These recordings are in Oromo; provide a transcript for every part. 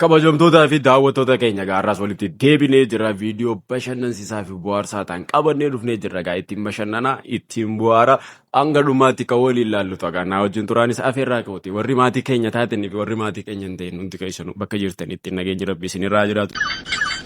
Kabajamtootaa fi daawwattoota keenya egaa har'aas walitti deebinee jirra viidiyoo bashannansiisaa fi bohaarsaa ta'an qabannee dhufnee jirra egaa ittiin bashannanaa ittiin bohaara hanga dhumaatti kan waliin ilaallu ta'a naa wajjin turaanis afeerraa kooti warri maatii keenya taatanii fi warri maatii keenya hin ta'in hundi keessanuu bakka jirtanitti nageenyi rabbi isinirraa jiraatu.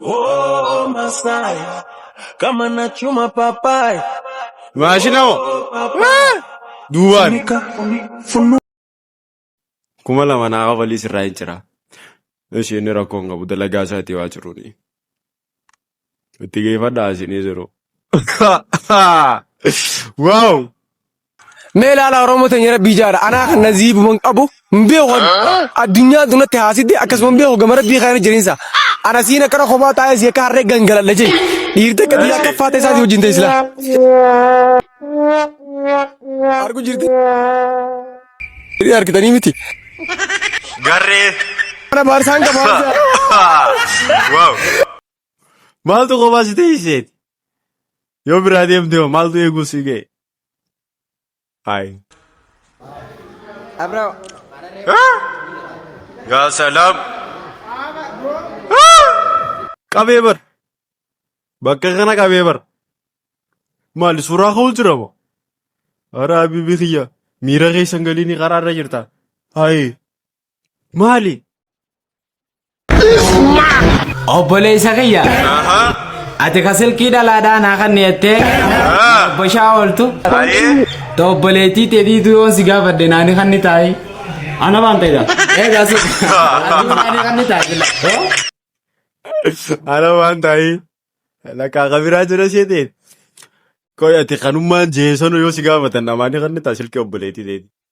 Oh Masai, kama na chuma papai. Maashina hoo? Ah! Duubaan. Funika, funu. Kuma lama naa kafalii sirraa hin jira. Ishee inni rakkoo hin qabu dalagaa isaa itti waa jiruuni. Itti geeffadhaa isinii jiru. Waaw! Mee ilaalaa Oromoo teenya rabbii jaara anaa kan naziibuman qabu hin beeku addunyaa dunatti haasidde akkasuma hin beeku gama rabbii kana jirinsa ana siin akkana kophaa taa'ee si akka harree gangaladha jee dhiirte akka xiyyaa akka faata isaati wajjin ta'e silaa argu jirti dhiirri argitanii miti Garree. mana baarsaan qabaa Wow. Maaltu kophaa si teessiseeti? Yoo biraa deemte hoo maaltu eeguu si ga'e? Hi. Abra. Yaa salaam. Qabee bar. Bakka kana qabee bar. Maali suuraa ka'uu jira moo? Hara habiibii kiyya miira keessan galiinii karaa irra jirta. Hayi. Maali? Obboleessa kiyya. Ati ka silkii dhalaadhaa naa kan dhiyattee. Obbo Shaa ooltu. Ta obboleettii teetiitu yoon si gaafadhe naani kan ni taa'i. Ana waan ta'edha. Eegaa si. Ati naani kan ni taa'i. Ana waan taa'i. Lakkaa kabiraa jira isheetiin. Qoy ati kanummaan jeesonu yoo si gaafatan amaanii kan ni taa'i silkii obboleettii teeti.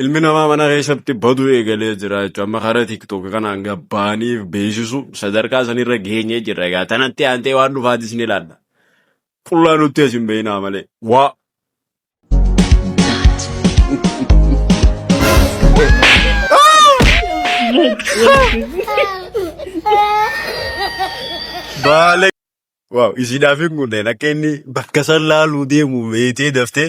Ilmi namaa mana keessatti baduu eegalee jira jechuudha. Amma karaa TikTok kanaan gabbaaniif beeksisu sadarkaa sanirra geenyee jirra. Egaa tanatti aantee waan dhufaatis ni ilaalla. Qullaa nutti as hin beeknaa malee. Waa. Baale. Waaw isiidhaaf hin kunneen akka inni bakka san laaluu deemu beektee daftee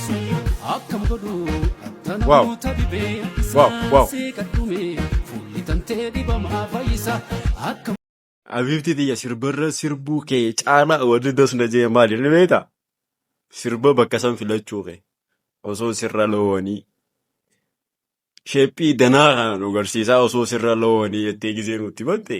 Akkam godhu akka Wow. namoota dhibee Wow, wow. isaa seeqadhume fuulli tantee dhibamaa fayyisa akka Abiibti tiyya sirbarra sirbuu kee caalaa wanni das na jee maali ni beekta? Sirba bakka san filachuu kee osoo sirra loowanii sheephii danaa kana nu garsiisaa osoo sirra loowanii jettee gisee nutti batte.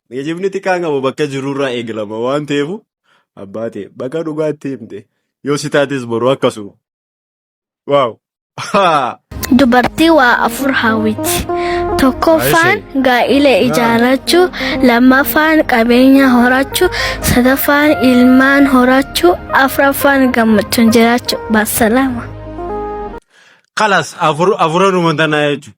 Geejibni xiqqaan qabu bakka jirurraa eegalama waan ta'eef abbaa ta'e bakka dhugaatti himte yoo si taates boru akkasuma. Waaw! Dubartii waa afur hawwiti. Tokkoffaan gaa'ila ijaarrachuu, lammaffaan qabeenya horachuu, sadaffaan ilmaan horachuu, afraffaan gammachuun jiraachuu. Baasalaama. Kalas afuranuma tanaa jechuudha.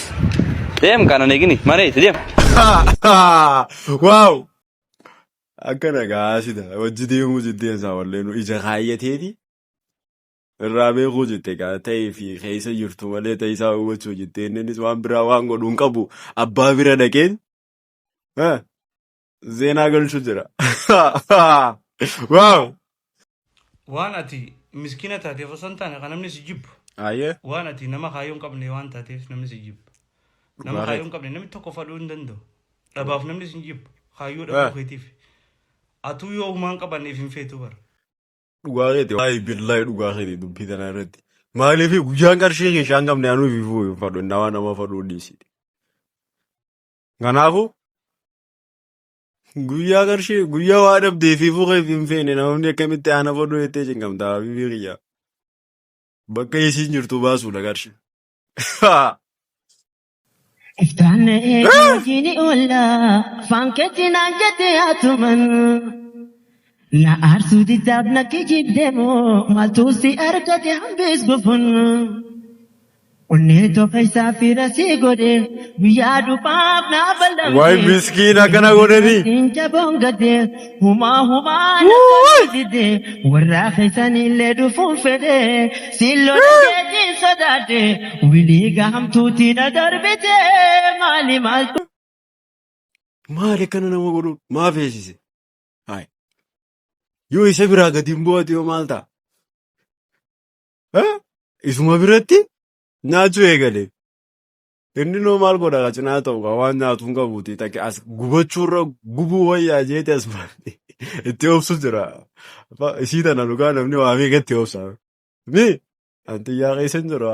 Deem kana negini mana itti deem. Waaw! Akkana gaa sida wajji deemuu jiddeen isaa wallee nu ija kaayyateeti irraa beekuu jette gaa ta'ee fi keessa jirtu malee ta'e isaa hubachuu jette innis waan biraa waan godhu hin qabu abbaa bira dhaqeen Zeenaa galchu jira. Waaw! Waan ati miskiina taateef osoo hin taane kan namni si jibbu. Ayyee. Waan ati nama kaayyoo hin qabne waan taateef namni si jibbu. Nama Dhugaa kaayyoo hin qabne namni tokko fadhuu hin danda'u. Dhabaaf namni si jibbu. Kaayyoo dhabuu Eh. keetiif. Atuu yoo humaa hin qabanneef hin feetu bara. Dhugaa keeti. Waayi billahi dhugaa keeti dubbii tana irratti. Maaliif guyyaan qarshii keessaa hin qabne anuu fi fuu hin fadhu. Nama nama fadhuu dhiisi. Kanaafuu guyyaa qarshii guyyaa waa dhabdee fi fuula fi hin feene namoonni akkamitti aana fodoo jettee cinqamta habibii kiyya. Bakka isiin jirtu baasuudha qarshii. Iftaan na'ee hojiin oollaa afaan keetti naan jette haatuman. Na aarsuu diddaaf na kijibde moo maaltu si argate hambiis gufun. Onnee too keessaa fiira sii godhe guyyaa dhumaaf naa Waay ballamte miskiin Mee akkana hojii godhanii. rabbiin jaboon gadde humaa humaa na toluu didde warraa keessaniillee dhufuun fedhe siin lola jeetiin sodaadhe wilii gahamtuutii na darbite maali maaltu Maali akkana nama godhuun maa feesise? Haay. Yoo isa biraa gadi hin bu'atu yoo maal ta'a? Eh, Isuma biratti nyaachuu eegale. Inni noo maal godha ka cinaa ta'u ka waan nyaatu hin qabuuti. Takka as gubachuurra gubuu wayyaa jeete as baate. Itti obsu jira. Ba- Isii tana dhugaa namni waa meeqa itti obsa. Mi antiyyaa keessa hin jira.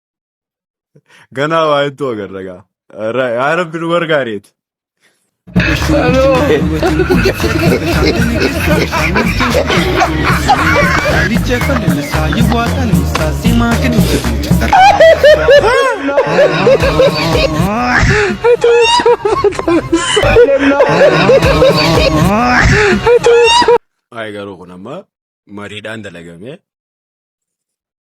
Ganaa waa hedduu agarra gaa. Ra- Yaa rabbi nu gargaareeti. Waa'ee garuu kun amma mariidhaan dalagamee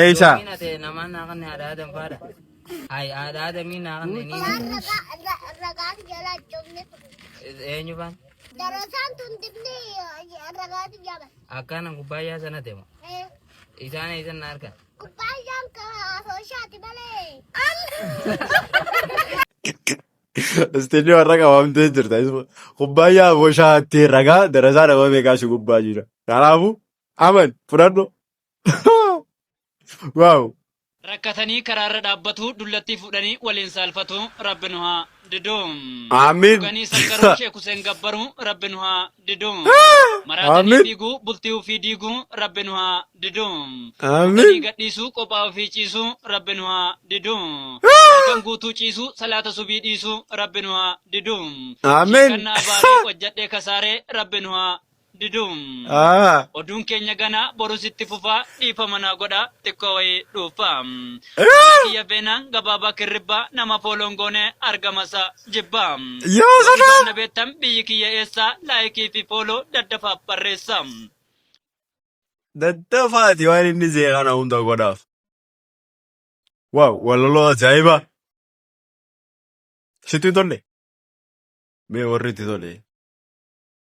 Eeysa. Istiidiyoo har'a qabamtee jirta. Kubbaayyaa boshaatti ragaa darasaa nama beekaa si gubbaa jira. Kanaafuu Aman fudhadhu. Waaw. Rakkatanii karaarra dhaabbatu dullattii fuudhanii waliin saalfatu rabbi nu haa didu. Aamiin. Dhuganii sakkaruu Sheek Huseen gabbaru rabbi nu haa didu. Maraatanii Aamiin. fiiguu bultii ofii diigu rabbi nu haa didu. Aamiin. Dhuganii gadhiisuu qophaa ofii ciisu rabbi nu haa didu. Halkan guutuu ciisu salaata subii dhiisu rabbi nu haa didu. Aamiin. Sheekanna abaaree hojjadhee kasaaree rabbi nu haa diduum. Aa. Oduun keenya ganaa borus itti fufaa dhiifama naa godhaa xiqqoo wayii dhuuffaa. Maqaa kiyya Veenaan Gabaabaa Kirribbaa nama follow hin goone argama isaa jibbaa. Yaa Yoo dhuguma sadaa. na beektan biyyi kiyya eessaa like fi follow daddafaaf barreessaa. Daddafaati waan inni jee kana hunda godhaaf. Waaw walaloo ajaa'ibaa. Sitti hin tolle? Mee warri itti tole.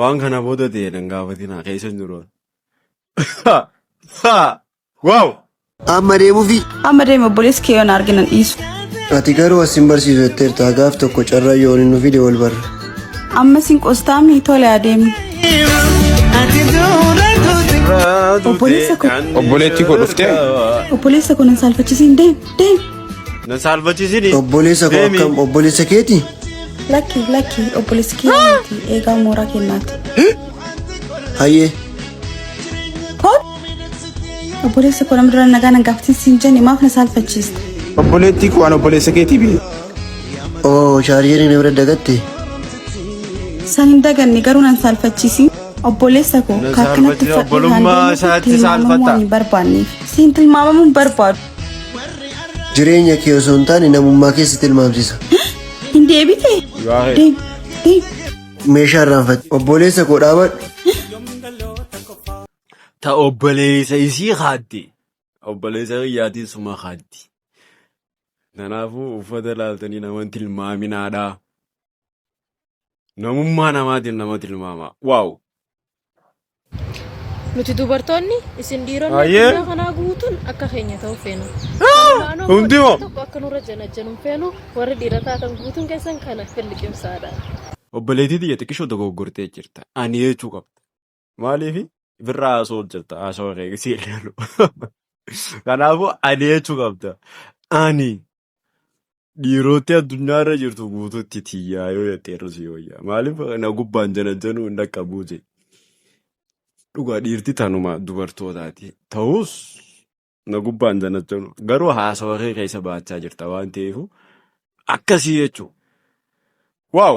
Waan kana booda ta'e nan gaafatina keessa hin jiru. Waaw! Amma deemuufi. Amma deemi obboleessi kee yoon arge nan dhiisu. Ati garuu as hin barsiisu jetteerta gaaf tokko carraa yoo inni nu fide wal barra. Amma sin qostaami tole adeemi. Obboleessa koo. Obboleettii koo dhuftee? Obboleessa koo nan saalfachisiin deem deem. Na saalbachiisini. Obboleessa koo Deemi. akkam obboleessa keeti? Lakki lakki obboleessi kiyyaa miti eegaa mooraa kennaati. Hayyee. Koot obboleessi koo nama dura nagaa nan gaafatin siin jenne maaf na saalfachiiste? Obboleettii koo an obboleessa keetii biyya. Oo shaarjeerii na bira dagatte. San hin daganne garuu nan saalfachiisi. Obboleessa koo Na kaakkanatti saalfachiisa, obbolummaa isaatti saalfata. hin barbaanneef. Siin tilmaamamuun barbaadu. Jireenya kee osoo hin taane namummaa kee si tilmaamsisa. Hin deebite. Deem. Deem. Meeshaa irraanfatte. Obboleessa koo dhaabadhu. Ta obboleessa isii kaatti. Obboleessa kiyyaatiin suma kaatti. Kanaafuu uffata laaltanii nama hin tilmaaminaadha. Namummaa namaatiin nama tilmaama. Waaw! Nuti dubartoonni isin dhiironni Hayyee. addunyaa kanaa guutuun akka keenya ta'uu feenu. Kanumaan ammoo Hundi moo? tokko akka nurra janajjanu hin feenu warri dhiira taatan guutuun keessan kana filliqimsaadha. Obboleettii tiyya xiqqishoo dogoggortee jirta. Ani jechuu qabda. Maaliifi? Birraa haasoo jirta. Haasoo kee si ilaalu. Kanaafuu ani jechuu qabda. Ani. Dhiirootti addunyaa irra jirtu guutuutti tiyyaa yoo jettee irra si wayyaa. Maaliif na gubbaan janajjanuu hin dhaqqabuu jee. Dhugaa dhiirti tanuma dubartootaati. Ta'us na gubbaan janajjanuu. Garuu haasawa kee keessa baachaa jirta waan ta'eef akkasii jechuudha. Waaw!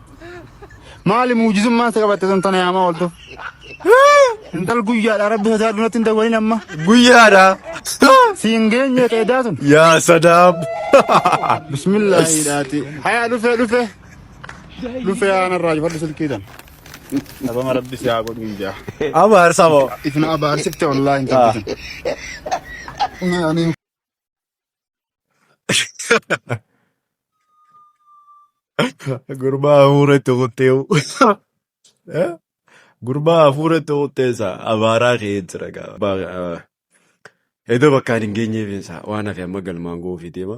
Maali muujizummaa isa qabatte sun tana yaamaa ooltu. Intal guyyaadha rabbi sodaa dunatti hin dawwalin amma. Guyyaadha. Siin geenye ta'e daatun. Yaa sadaab. Bismillaahi dhaati. Hayaa dhufee dhufee. Dhufee haana irraa jifadhu silkii tan. Dhabama rabbi si haa godhu ijaa. Abaarsa moo. Ifna abaarsifte wallaahi hin qabbisin. Gurbaa hafuura itti kuttee. Gurbaa hafuura itti kuttee isaa abaaraa ka'ee jira gaa. Ba- Edo bakkaan hin geenyeef isaa waan hafe amma galmaan ga'uuf deema.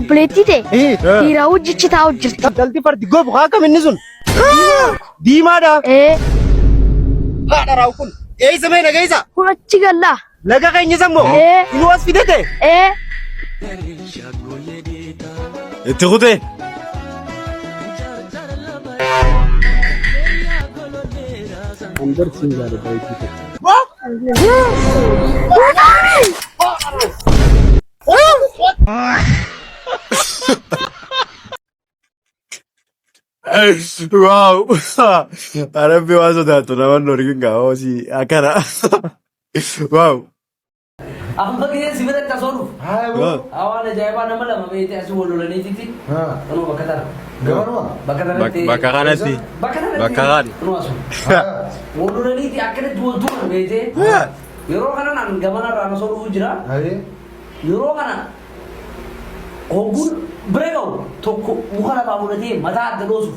Obboleettii tee dhiiraa hojjichi taa'u jirti. Intalti fardi gobu haa kam inni sun? Diimaadha. Ee. Haadha raawwu kun. Eessa mee nageessa? Kun achi gallaa. Laga keenya isa immoo Ee. inni as fidate. Ee. Itti kutee. Wow. Arabbi waan sodaattu naman dorgin gaa'oo si akkana. Waaw. Amma gidee si bira tasoo dhufu. Waaw. Hawaan ajaa'ibaa nama lama beekte asii wal lolaniititti. Kunoo bakka tana. Gabaruma. Bakka Bak- tanatti. Bakka kanatti. Bakka tanatti. Bakka kan. Kunoo asu. Wal lolaniiti akkanatti wal tuman beekte. Yeroo kana naan gamana irraa nasoo dhufu jira. Yeroo kana hogguun bira ga'u tokko muka lafaa fudhatee mataa adda dhoosuuf.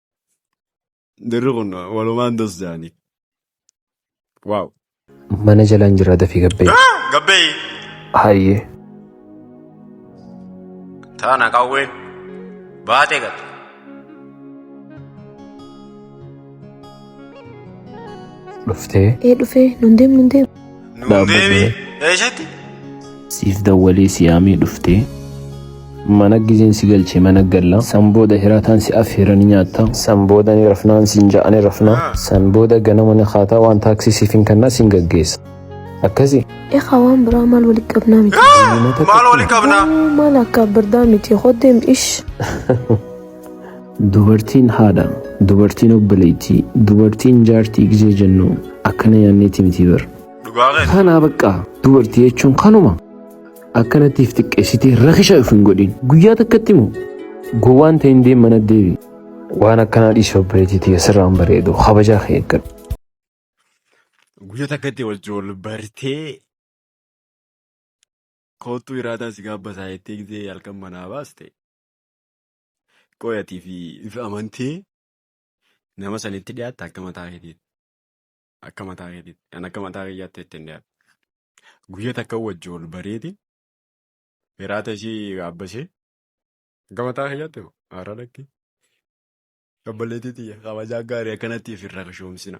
Dirri kun walumaan dos jaanii. Waaw. Mana jalaan jira dafii gabbee. Gabbee Hayyee. taana qawween baatee galte. Dhuftee. Ee dhufee nun deemnu hin deemnu. Nuun deebi eessatti? Siif dawwalee si yaamee dhuftee. Mana gizeen si galchee mana galla. San booda hiraataan si affeera ni nyaatta. San booda ni rafnaan siin ja'a ni rafna. San booda ganama ni kaataa waan taaksii siif hin kannaa siin gaggeessa. Akkasi. Ekaa waan biraa maal walitti qabnaa miti. Maal walitti qabnaa? Maal akka birdaa miti hoddeem ish. Dubartiin haadha, dubartiin obboleettii, dubartiin jaartii gizee jennu akkana yaanneeti miti bar. Dhugaa keeti. Kanaa bakka dubartii jechuun kanuma akkanatti if xiqqeessitee rakisha if hin godhin. Guyyaa takkatti moo gowwaan ta'e hin deem mana deebi. Waan akkanaa dhiisii obboleettii tiyya sirraan bareedu kabajaa kee eeggadhu. Guyyaa takkatti wajjin wal bartee koottuu iraataa si gaabbasaa jettee gizee halkan manaa baaste. Qoyatii fi ifa amantii nama sanitti dhiyaatte akka mataa keetiitti. Akka mataa keetiitti. Kan akka mataa kiyyaatti itti hin dhiyaatte. Guyya takka wajji ol bareeti. Hiraata isii gaabbasee. Akka mataa kiyyaatti hoo? Haaraa dhaqti. Obboleettii tiyya kabajaa gaarii akkanatti ifirra kashoomsina.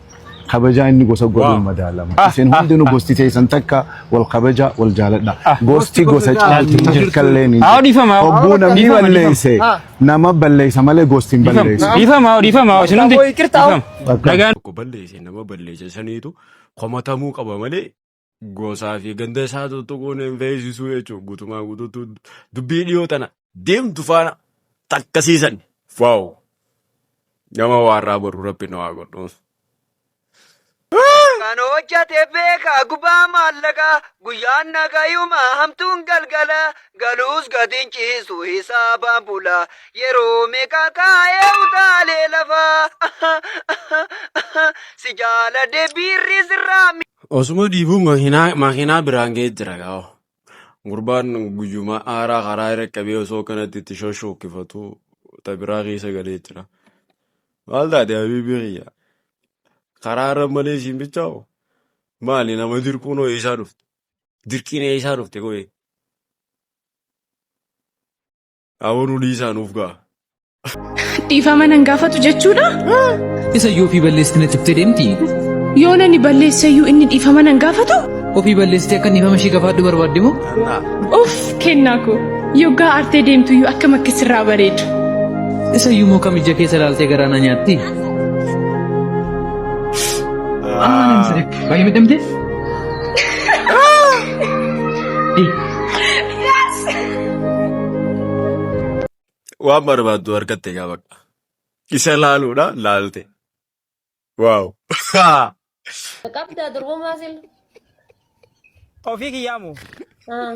kabajaa inni gosa godhuun Wow. madaalama. Ah, Isin ah, hundinuu ah. gosti teessan takka wal kabajaa wal jaaladha. Ah. Gosti gosa caalti hin jirkallee ni Haa dhiifama. Hogguu namni Dhiifama, balleesse Ah. nama balleessa malee gosti hin Dhiifama. balleessu. Dhiifama. Dhiifama. Isin hundi. Aboo, iqirtaa. Dhiifama. Bakka- Nagaan. tokko balleesse nama balleesse saniitu komatamuu qaba malee Gosaa fi ganda isaa tuttuquun hin feesisuu jechuun guutumaa guutuutti dubbii dhiyoo tana deemtu faana takkasiisan. Waaw! Nama waarraa boruu rabbi nu haa godhu. Kan hojjate beeka gubaa maallaqa guyyaan nagayuma hamtuun galgala galuus gatiin ciisu hisaabaan bula yeroo meeqa kaa'ee utaalee lafa si jaala debiirri sirraa Osuma dhiibuu makiinaa makiinaa biraan ga'ee jira gaa. Gurbaan guyyuma haaraa karaa irra qabee osoo kanatti itti shoshookkifatu ta biraa keessa galee jira. Maal taate habiibii kiyya? Karaa irra malee siin bichaa'u? Maali nama dirquun hoo eessaa dhufte? Dirqiin eessaa dhufte koo? Dhaabonuu dhiisaa nuuf ga'a. Dhiifama nan gaafatu jechuudha? Isa iyyuu ofii balleessite na ciftee deemti. Yoo nani balleesse iyyuu inni dhiifama nan gaafatu? Ofii balleessitee akka dhiifama ishee gafaadhu barbaadde moo? Of kennaa koo. Yoggaa aartee deemtu iyyuu akkam akka sirraa bareedu. Isa iyyuu moo kam ija keessa ilaaltee garaa na nyaatti? Amma nan sirriitti. Baay'ee miidhamtee? Waan barbaaddu argatte egaa bakka. Isa laaluudha laalte. Waaw. Qabdaa durbumaa sila. Ofii kiyyaa moo? Ah.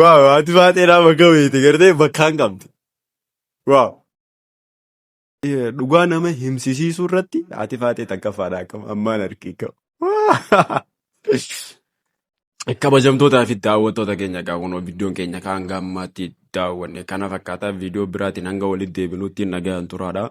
Waaw ati baatee nama gaweete gartee bakkaan qabdi. Waaw. Eh, Dhugaa nama himsisiisuu irratti ati baatee takkaffaadha akkam ammaan harkii qabu. Kabajamtootaa fi daawwattoota keenya egaa kunoo viidiyoon keenya kan hanga ammaatti daawwanne kana fakkaataa viidiyoo biraatiin hanga walitti deebinuutti nagaan turaadha.